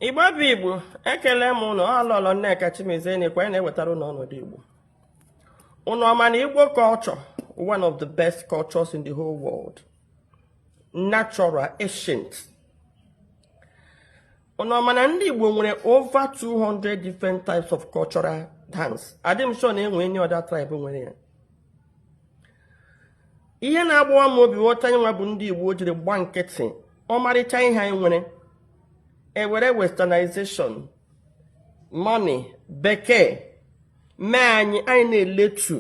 igbo bụ igbo ekele m ụnụ ọ lọlọ nneka chimezie na-ekwe anyị na-ewetara ụnụ ọnọdụ igbo ụnụ ọ ma na igbo culture one of the best cultures in the whole world natural ancient ụnụ ọ ma na ndị igbo nwere over 200 different types of cultural dance adị m sure na enwe any other tribe nwere ya ihe na-agbawa m obi wụ otu anyị nwa bụ ndị Igbo jiri gba nkịtị ọmarịcha ihe anyị nwere ewere westernization money bekee mee anyị anyị na-eletu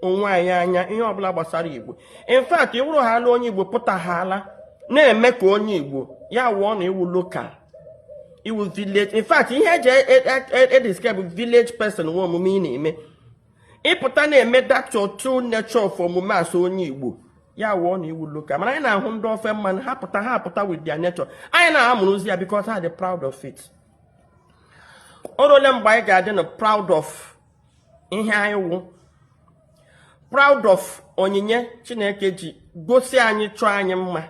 onwe anyị anya ihe ọbụla gbasara igbo in fact ị wụrụhaala onye igbo pụtahaala na-eme ka onye igbo ya wụọ na ị wụ local ị wụ village in fact ihe eji edescribe e, e, e village person wụ omume ị na-eme ị pụta na-eme that your true nature of omume as onye igbo ya wụọ na ị wụ local mana anyị na-ahụ ndị ofe mmanụ ha pụta ha pụta with their nature anyị na-amụrụzi ya because ha dị proud of it o ruole mgbe anyị ga-adị na proud of ihe anyị wụ proud of onyinye chineke ji gọzie anyị chọọ anyị mma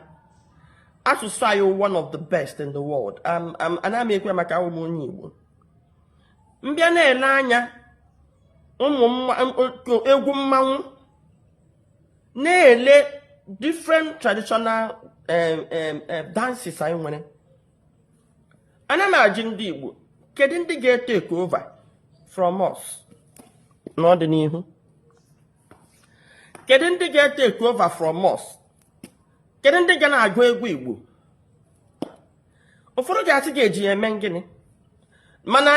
asụsụ anyị one of the best in the world ana m ekwu ya maka awụ m onye igbo m bịa na-ele anya ụmụ egwu mmanwụ na-ele different traditional dances anyị nwere ana m ajụ ndị Igbo kedu ndị ga-etake over from us n'ọdịnihu kedu ndị ga-etake over from us kedu ndị ga na-agụ egwu igbo ụfọdụ ga-asị ga-eji ya eme gịnị mana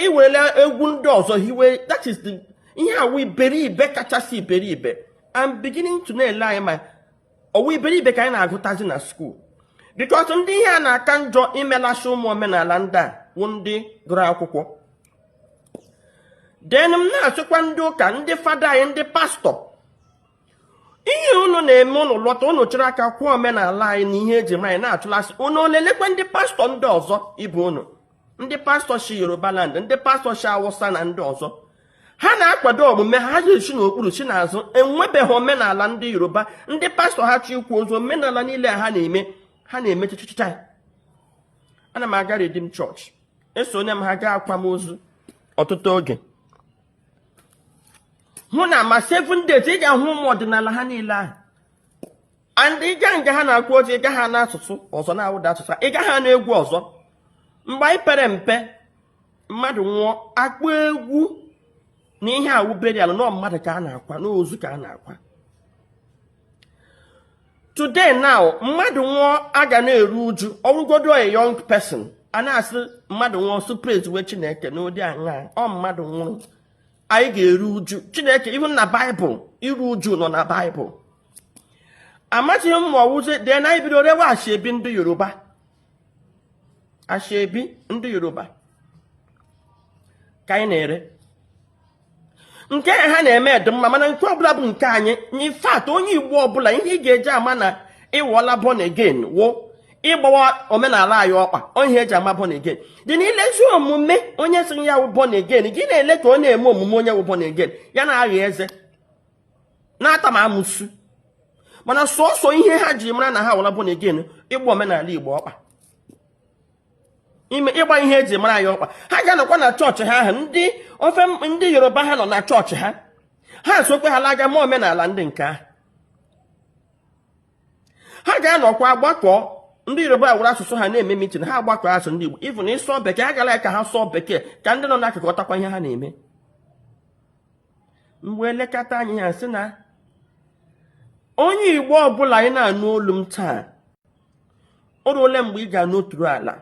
i were egwu ndị ọzọ hiwe that is the ihe a wụ iberibe kachasị iberibe I'm beginning to na-ele anya ma ọ wụ iberibe ka anyị na-agụtazi na school because ndị ihe a na-aka njọ imelasị ụmụ omenala ndị a wụ ndị gụrụ akwụkwọ then m na-asịkwa ndị ụka ndị fada anyị ndị pastọ ihe unu na-eme ụnụ lọta ụnụ chịrị aka kwụọ omenala anyị na ihe eji mara anyị na-achụlasị ụnụ ọ lelekwa ndị pastọ ndị ọzọ ibe ụnụ ndị pastọ si yoruba land ndị pastọ si awụsa na ndị ọzọ ha na-akwado omume ha ji esi n'okpuru si n'azụ enwebeghị omenala ndị yoruba ndị pastọ ha chọ ịkwa ozu omenala niile ha na-eme ha na-eme chichichicha ana m aga redeem church esonye m ha gaa akwamozu ọtụtụ oge hụ na ma seven days ị ga-ahụ ụmụ ọdịnala ha niile ahụ and ị gaa nga ha na-akwa ozu ị gaghị anụ asụsụ ọzọ na-awụghị their asụsụ ị gaghị anụ egwu ọzọ mgbe anyị pere mpe mmadụ nwụọ akpọ egwu na ihe a wụ burial na ọ mmadụ ka a na-akwa n'ozu ka a na-akwa today now mmadụ nwụọ a ga na-eru uju ọwụgodu a young person a na-asị mmadụ nwụọ sị praise we chineke n'ụdị aṅa ọ mmadụ nwụrụ anyị ga-eru uju chineke even na baịbụl iru uju nọ na baịbụl amazighị m ma ọwụzi then anyị bido rewe ashebi ndị yoruba ashebi ndị yoruba ka anyị na-ere nke ha na-eme dị mma mana nke ọbụla bụ nke anyị in fact onye igbo ọbụla ihe ị ga-eji ama na ị wụla born again wụ ịgbawa omenala anyị ọkpa ihe eji ama born again then ilezi omume onye sị ya wụ born again gị na-ele ka ọ na-eme omume onye wụ born again ya na-agha eze na-ata ma amụsu mana sọsọ ihe ha ji mara na ha wụla born again ịgba omenala igbo ọkpa ime ịgba ihe eji mara anyị ọkpa ha ga-anọkwa na chọọchị ha ahụ ndị ofe ndị yoruba ha nọ na chọọchị ha ha sokwe ha laga ma omenala ndị nke ahụ ha ga-anọkwa gbakọọ ndị yoruba were asụsụ ha na-eme mitin ha gbakọọ as ndị igbo even ịsụ bekee ha gara ka ha sụọ bekee ka ndị nọ n'akụkụ ghọtakwa ihe ha na-eme mgbe elekọta anyị ha sị na onye igbo ọbụla anyị na-anụ olu m taa o ruole mgbe ị ga-anọtụrụ ala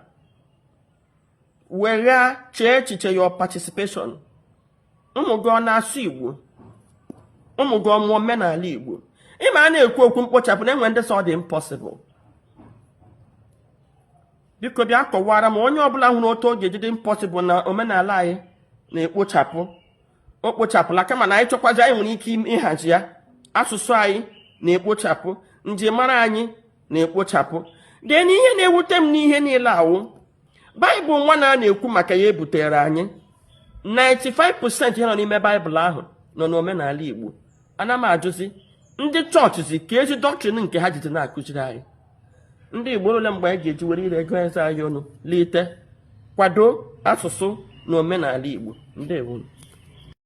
were chee echiche your participation ụmụ gị ọ na-asụ igbo ụmụ gị ọ ma omenala igbo ịma a na-ekwu okwu mkpochapụ na enwe ndị sị ọ dị impossible biko bịa kọwara m onye ọbụla hụrụ otu ọ ga-eji dị impossible na omenala anyị na-ekpochapụ o kpochapụla kama na anyị chọkwazi anyị nwere ike ịhazi ya asụsụ anyị na-ekpochapụ njirimara anyị na-ekpochapụ then ihe na-ewute m n'ihe niile a wụ baịbụl nwanụ a na-ekwu maka ya ebutere anyị 95% ihe nọ n'ime baịbụl ahụ nọ n'omenala igbo ana m ajụzi ndị chọọchịzi keezi dọktrin nke ha jizi na-akụziri anyị ndị Igbo ole mgbe anyị ga-eji were ire gụọ eze anyị ọnụ lite kwado asụsụ na omenala Igbo ndewo